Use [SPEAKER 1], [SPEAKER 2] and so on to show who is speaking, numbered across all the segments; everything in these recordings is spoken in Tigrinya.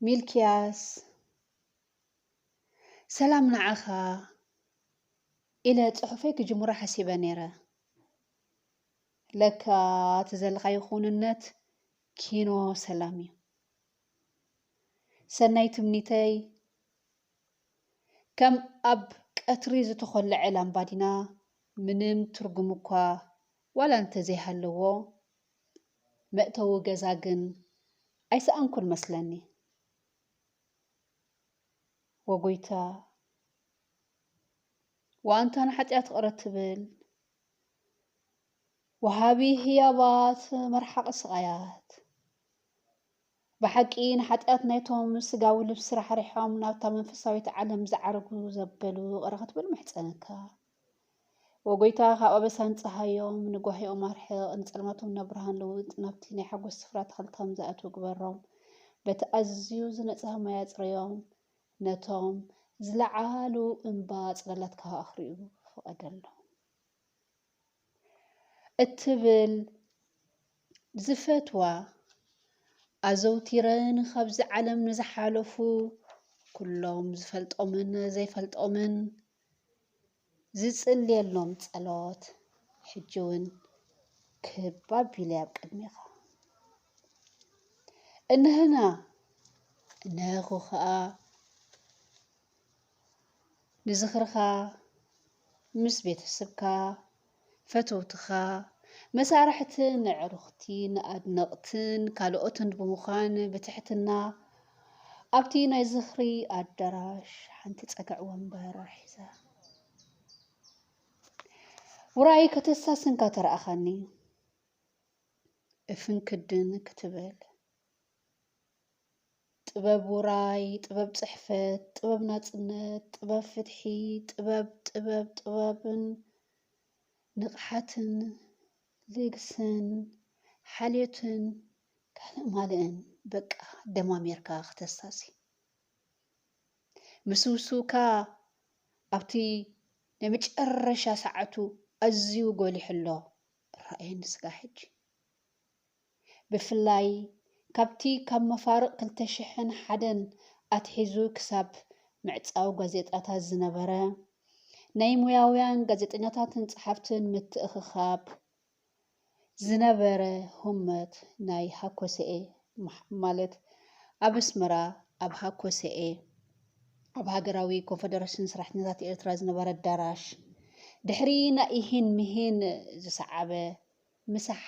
[SPEAKER 1] ሚልክያስ ሰላም ንዓኻ ኢለ ጽሑፈይ ክጅምሮ ሓሲበ ነይረ። ለካ እቲ ዘለኻዮ ክውንነት ኪኖ ሰላም እዩ። ሰናይ ትምኒተይ ከም ኣብ ቀትሪ ዝተኾለዐ ላምባዲና ምንም ትርጉም እኳ ዋላ እንተዘይሃለዎ፣ መእተዊ ገዛ ግን ኣይሰኣንኩን መስለኒ። ወጎይታ! ወኣንታ ንሓጢኣት ቕረ ትብል ወሃቢ ህያባት መርሓቒ ስቓያት! ብሓቂ ንሓጢኣት ናይቶም ስጋዊ ልብሲ ራሕሪሖም ናብታ መንፈሳዊት ዓለም ዝዓርጉ ዘበሉ ይቕረ ክትብል እምሕጸነካ። ኦ ጐይታ ካብ ኣበሳን ጸሃዮም ንጓሂኦም ኣርሕቕ፣ ንጸልማቶም ናብ ብርሃን ልውጥ፣ ናብቲ ናይ ሓጐስ ስፍራ ኣታኽልቲ ከም ዝኣትዉ ግበሮም፣ በቲ ኣዝዩ ዝነጽሀ ማይ ኣጽርዮም፣ ነቶም ዝለዓሉ እምባ ጽላላትካ ከኣኽርዩ ፍቐደሎም። እትብል ዝፈትዋ ኣዘውቲረ ንካብዚ ዓለም ንዝሓለፉ ኩሎም ዝፈልጦምን ዘይፈልጦምን ዝጽልየሎም ጸሎት ሕጂ እውን ክብ ኣቢለ ኣብ ቅድሜኻ እነህና እነህኹ ከኣ ንዝኽርኻ ምስ ቤተስብካ፣ ፈተውትኻ፣ መሳርሕትን ኣዕሩኽቲን፣ ኣድነቕትን ካልኦትን ብምዃን ብትሕትና ኣብቲ ናይ ዝኽሪ ኣዳራሽ ሓንቲ ጸግዕ ወንበር ሒዘ ውራይ ከተሳስንካ ተረኣኻኒ እፍንክድን ክትብል ጥበብ ውራይ፣ ጥበብ ጽሕፈት፣ ጥበብ ናጽነት፣ ጥበብ ፍትሒ፣ ጥበብ ጥበብ ጥበብን ንቕሓትን ልግስን ሓልዮትን ካልእ ማልእን በቃ ደማሚርካ ክተሳሲ ምስውስውካ ኣብቲ ናይ መጨረሻ ሰዓቱ ኣዝዩ ጎሊሑ ኣሎ ራእየኒ ስጋ ሕጂ ብፍላይ ካብቲ ካብ መፋርቕ ክልተ ሽሕን ሓደን ኣትሒዙ ክሳብ ምዕጻው ጋዜጣታት ዝነበረ ናይ ሞያውያን ጋዜጠኛታትን ጸሓፍትን ምትእኽኻብ ዝነበረ ሁመት ናይ ሃኮሰኤ ማለት ኣብ ኣስመራ ኣብ ሃኮሰኤ ኣብ ሃገራዊ ኮንፈደረሽን ሰራሕተኛታት ኤርትራ ዝነበረ ኣዳራሽ ድሕሪ ናይ ኢሂን ምሂን ዝሰዓበ ምሳሕ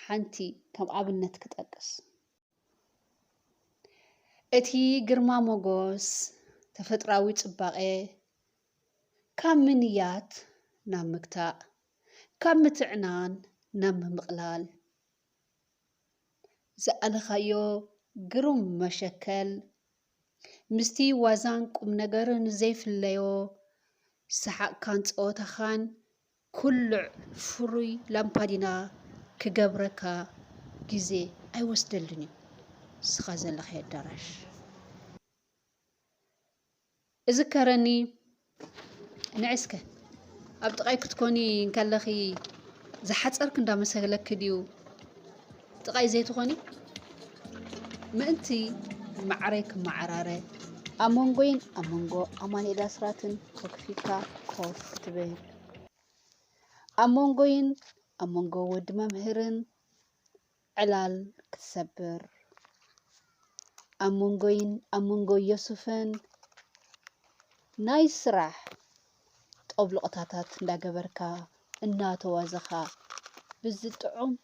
[SPEAKER 1] ሓንቲ ከም ኣብነት ክጠቅስ። እቲ ግርማ ሞጎስ ተፈጥራዊ ጽባቐ ካብ ምንያት ናብ ምግታእ፣ ካብ ምትዕናን ናብ ምምቕላል ዝኣለኻዮ ግሩም መሸከል ምስቲ ዋዛን ቁምነገርን ዘይፍለዮ ሰሓቕካን ጸወታኻን ኩልዕ ፍሩይ ላምፓዲና ክገብረካ ግዜ ኣይወስደልን እዩ ንስኻ ዘለኻዮ ኣዳራሽ። እዝከረኒ ንዒ እስከ ኣብ ጥቓይ ክትኮኒ እንከለኺ ዝሓጸርክ እንዳመሰለኪ ድዩ? ጥቓይ ዘይትኾኒ? ምእንቲ ማዕረይ ክመዓራረ ኣብ መንጎይን ኣብ መንጎ ኣማኑኤል ኣስራትን ተኩፊካ ኮፍ ትብል። ኣብ መንጎይን ኣብ መንጎ ወዲ መምህርን ዕላል ክትሰብር ኣብ መንጎይን ኣብ መንጎ ዮሱፍን ናይ ስራሕ ጦብሎቕታታት እንዳገበርካ እናተዋዘኻ ብዝጥዑም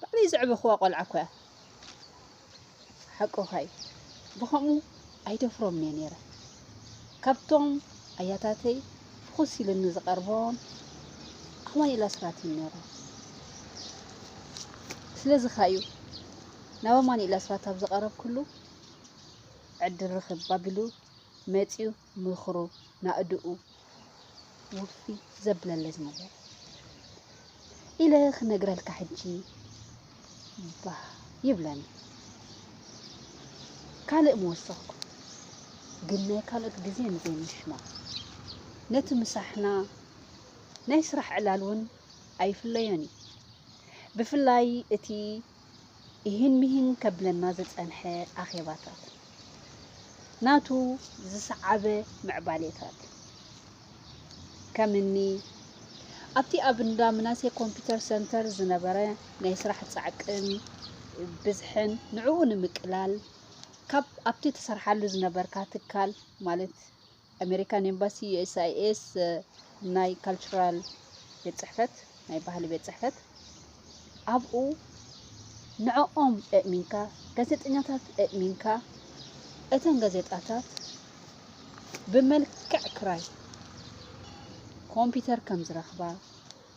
[SPEAKER 1] ባዕለይ ዘዕበኽዋ ቆልዓ እኮ እያ ሓቅኻ እዩ ብኸምኡ ኣይደፍሮምን እየ ነይረ ካብቶም ኣያታተይ ፍኹስ ኢልኒ ዝቐርቦም ኣማኒኤል ኣስራት እዩ ነይሩ ስለዚ ኸ እዩ ናብ ኣማኒኤል ኣስራት ኣብ ዝቐረብኩሉ ዕድር ርኽብ ኣቢሉ መፂኡ ምኽሩ ናእድኡ ውፊ ዘብለለ ዝነበረ ኢለ ክነግረልካ ሕጂ ባህ ይብለኒ ካልእ ምወሰኽኩ ግን ናይ ካልኦት ግዜ ንዘይምሽማዕ ነቲ ምሳሕና ናይ ስራሕ ዕላል እውን ኣይፍለዮን እዩ ብፍላይ እቲ ኢሂን ሚሂን ከብለና ዝጸንሐ ኣኼባታት፣ ናቱ ዝሰዓበ ምዕባሌታት፣ ከም እኒ ኣብቲ ኣብ እንዳ ምናሴ ኮምፒተር ሰንተር ዝነበረ ናይ ስራሕ ጻዕቅን ብዝሕን ንዕኡ ንምቅላል ካብ ኣብቲ ትሰርሓሉ ዝነበርካ ትካል ማለት ኣሜሪካን ኤምባሲ USIS ናይ ካልቸራል ቤት ጽሕፈት ናይ ባህሊ ቤት ጽሕፈት ኣብኡ ንዕኦም እእሚንካ ጋዜጠኛታት እእሚንካ እተን ጋዜጣታት ብመልክዕ ክራይ ኮምፒውተር ከም ዝረኽባ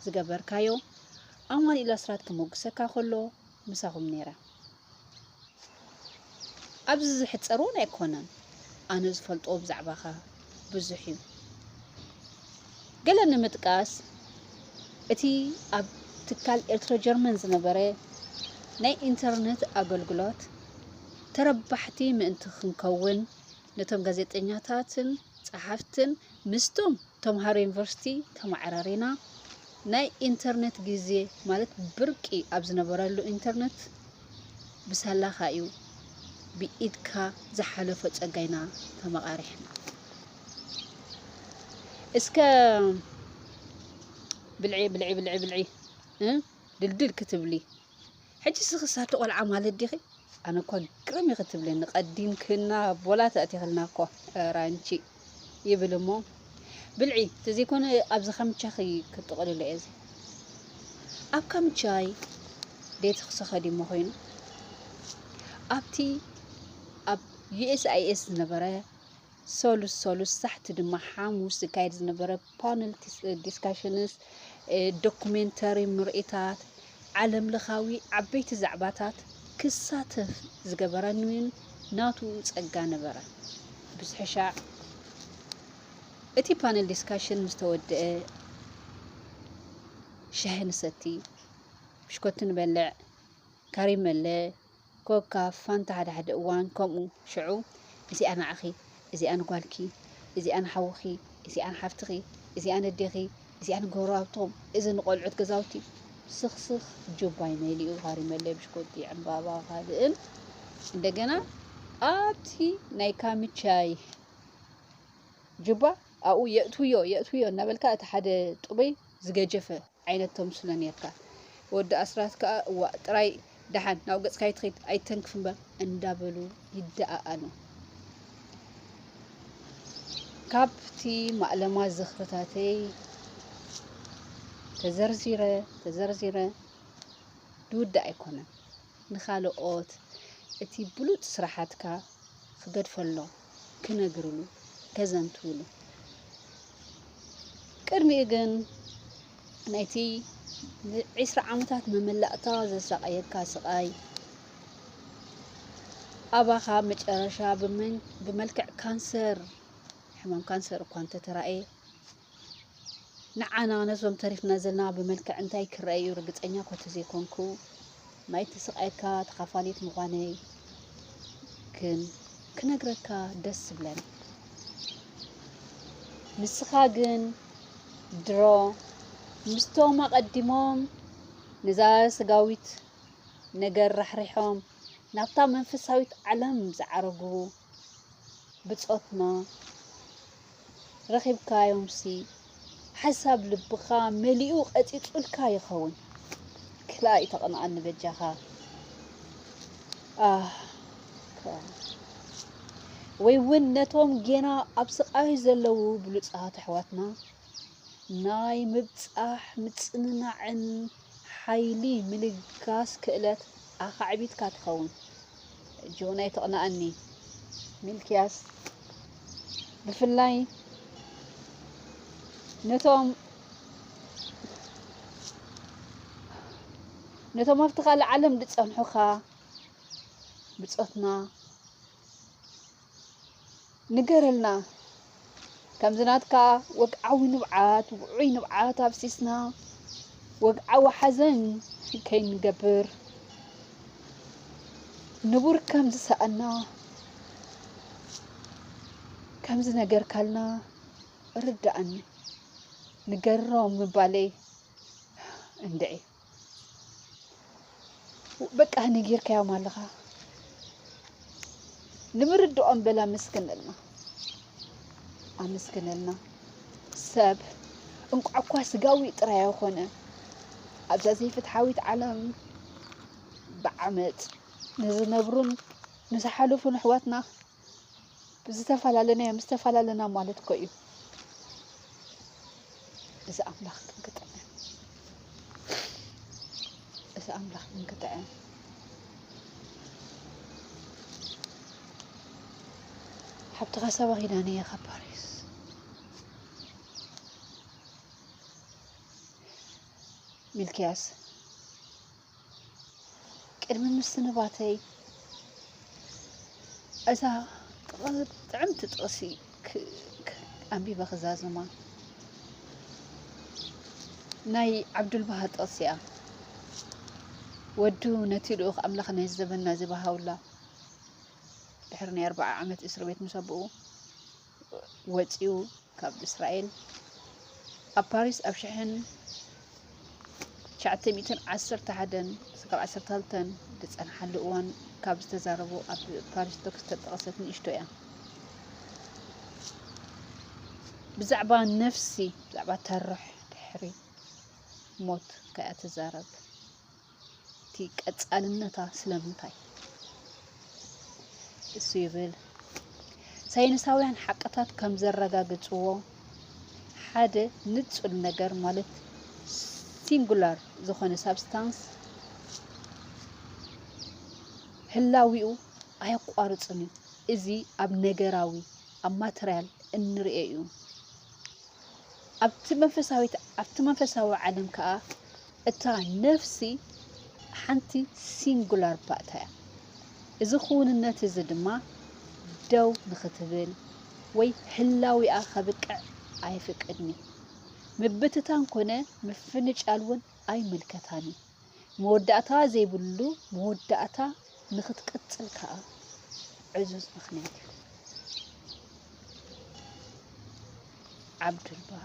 [SPEAKER 1] ዝገበርካዮ ኣማኒኤል ኣስራት ክመጉሰካ ከሎ ምሳኹም ነይረ። ኣብዚ ዝሕጸር እውን ኣይኮነን። ኣነ ዝፈልጦ ብዛዕባኻ ብዙሕ እዩ። ገለ ንምጥቃስ እቲ ኣብ ትካል ኤርትሮ ጀርመን ዝነበረ ናይ ኢንተርነት ኣገልግሎት ተረባሕቲ ምእንቲ ክንከውን ነቶም ጋዜጠኛታትን ጸሓፍትን ምስቶም ተምሃሮ ዩኒቨርሲቲ ተመዓራሪና ናይ ኢንተርነት ግዜ ማለት ብርቂ ኣብ ዝነበረሉ ኢንተርነት ብሳላኻ እዩ ብኢድካ ዝሓለፎ ጸጋ ኢና ተመቓሪሕና። እስከ ብልዒ ብልዒ ብልዒ ብልዒ ድልድል ክትብሊ ሕጂ ስክስ ኣቲ ቆልዓ ማለት ዲኺ ኣነ እኳ ግርም ኢኺ ትብለኒ ቀዲምክና ቦላ ተእቲኽልና እኮ ራንቺ ይብል እሞ ብልዒ ተዘይኮነ ኣብዚ ካምቻኺ ክጥቕልሎ እየ እዚ ኣብ ካምቻይ ቤት ክሰኸዲ እሞ ኮይኑ ኣብቲ ኣብ ዩኤስኣይኤስ ዝነበረ ሰሉስ ሰሉስ ሳሕቲ ድማ ሓሙስ ዝካየድ ዝነበረ ፓነል ዲስካሽንስ ዶኩሜንተሪ ምርኢታት ዓለምለኻዊ ዓበይቲ ዛዕባታት ክሳተፍ ዝገበረኒ እውን ናቱ ጸጋ ነበረ ብዝሕሻዕ እቲ ፓነል ዲስካሽን ምስ ተወድአ ሻሂ ንሰቲ፣ ብሽኮቲ ንበልዕ፣ ካሪመለ፣ ኮካፍ ፋንታ ሓደ ሓደ እዋን ከምኡ ሽዑ እዚኣ ንዓኺ እዚኣ ንጓልኪ እዚኣ ንሓውኺ እዚኣ ንሓፍትኺ እዚኣ ነዴኺ እዚኣ ንጎረባብትኹም እዚ ንቆልዑት ገዛውቲ ስኽስኽ ጁባይ መሊኡ ሃሪመለይ ብሽኮቲ ዕምባባ ካልእን እንደገና ኣብቲ ናይ ካምቻይ ጁባ ኣብኡ የእትውዮ የእትውዮ እናበልካ እቲ ሓደ ጥበይ ዝገጀፈ ዓይነት ተምስሎ ኔርካ ወዲ ኣስራት ከኣ እዋእ ጥራይ ደሓን ናብ ገጽካ ኣይትኺድ ኣይተንክፍ እምበር እንዳበሉ ይደኣኣሉ። ካብቲ ማእለማ ዝኽርታተይ ተዘርዚረ ተዘርዚረ ድውዳእ ኣይኮነን። ንኻልኦት እቲ ብሉጽ ስራሓትካ ክገድፈሎም ክነግርሉ ከዘንትውሉ ቅድሚኡ ግን ናይቲ ንዒስራ ዓመታት መመላእታ ዘሳቐየካ ስቓይ ኣባኻ መጨረሻ ብመልክዕ ካንሰር ሕማም ካንሰር እኳ እንተተራእየ ንዓና ነዞም ተሪፍና ዘለና ብመልክዕ እንታይ ክረኣ እዩ ርግጸኛ እኳ ተዘይኮንኩ ናይቲ ስቓይካ ተኻፋሊት ምዃነይ ግን ክነግረካ ደስ ዝብለኒ ንስኻ ግን ድሮ ምስቶም ኣቐዲሞም ነዛ ስጋዊት ነገር ራሕሪሖም ናብታ መንፈሳዊት ዓለም ዝዓረጉ ብጾትና ረኺብካዮምሲ ሓሳብ ልብኻ መሊኡ ቐጺጹልካ ይኸውን። ክላእ ተቐንኣኒ በጃኻ ኣህ ወይ ውን ነቶም ጌና ኣብ ስቓይ ዘለዉ ብሉጻት ኣሕዋትና ናይ ምብጻሕ ምጽንናዕን ሓይሊ ምልጋስ ክእለት ኣኻዕቢትካ ትኸውን። ጆን ኣይተቕንኣኒ ሚልክያስ ብፍላይ ነቶም ነቶም ኣብቲ ካልእ ዓለም ዝጸንሑኻ ብጾትና ንገረልና ከምዚ ናትካ ወግዓዊ ንብዓት ውዑይ ንብዓት ኣፍሲስና ወግዓዊ ሓዘን ከይንገብር ንቡር ከም ዝሰኣና ከም ዝነገርካልና ርዳእኒ ንገሮም ምባለይ እንድዒ በቃ ነጊርካዮም ኣለኻ ንምርድኦም በል ኣመስግነልና ኣመስግነልና ሰብ እንቋዕ እኳ ስጋዊ ጥራይ ኣይኾነ ኣብዛ ዘይፍትሓዊት ዓለም ብዓመፅ ንዝነብሩን ንዝሓለፉን ኣሕዋትና ዝተፈላለናዮም ዝተፈላለና ማለት እኮ እዩ እዚ ኣምላኽ ግን ክጥዕም እዚ ኣምላኽ ግን ክጥዕም ሓብትኻ ሰባ ኪዳነ እየ ካብ ፓሪስ ሚልክያስ ቅድሚ ምስንባተይ እዛ ጥዕምቲ ጥቕሲ ኣንቢበ ክዛዝማ ናይ ዓብዱልባሃ ጥቕሲ እያ ወዱ ነቲ ልኡኽ ኣምላኽ ናይ ዘበና እዚ ባሃውላ ድሕሪ ናይ ኣርባዓ ዓመት እስር ቤት ምስ ኣቦኡ ወጺኡ ካብ እስራኤል ኣብ ፓሪስ ኣብ ሽሕን ትሽዓተ ሚእትን ዓሰርተ ሓደን ክሳብ ዓሰርተ ክልተን ዝጸንሓሉ እዋን ካብ ዝተዛረቦ ኣብ ፓሪስ ቶክ ዝተጠቐሰት ንእሽቶ እያ ብዛዕባ ነፍሲ ብዛዕባ ተርሕ ድሕሪ ሞት ከኣ ትዛረብ እቲ ቀጻልነታ ስለምንታይ እሱ ይብል ሳይንሳውያን ሓቅታት ከም ዘረጋግጽዎ ሓደ ንጹል ነገር ማለት ሲንጉላር ዝኾነ ሳብስታንስ ህላዊኡ ኣየቋርጽን እዩ። እዚ ኣብ ነገራዊ ኣብ ማተርያል እንርእዮ እዩ። ኣብቲ መንፈሳዊት ኣብቲ መንፈሳዊ ዓለም ከዓ እታ ነፍሲ ሓንቲ ሲንጉላር ባእታ እያ። እዚ ክውንነት እዚ ድማ ደው ንኽትብል ወይ ህላዊኣ ከብቅዕ ኣየፍቅድን እዩ። ምብትታን ኮነ ምፍንጫል እውን ኣይምልከታን እዩ። መወዳእታ ዘይብሉ መወዳእታ ንኽትቅጽል ከኣ ዕዙዝ ምኽንያት እዩ። ዓብዱልባሃ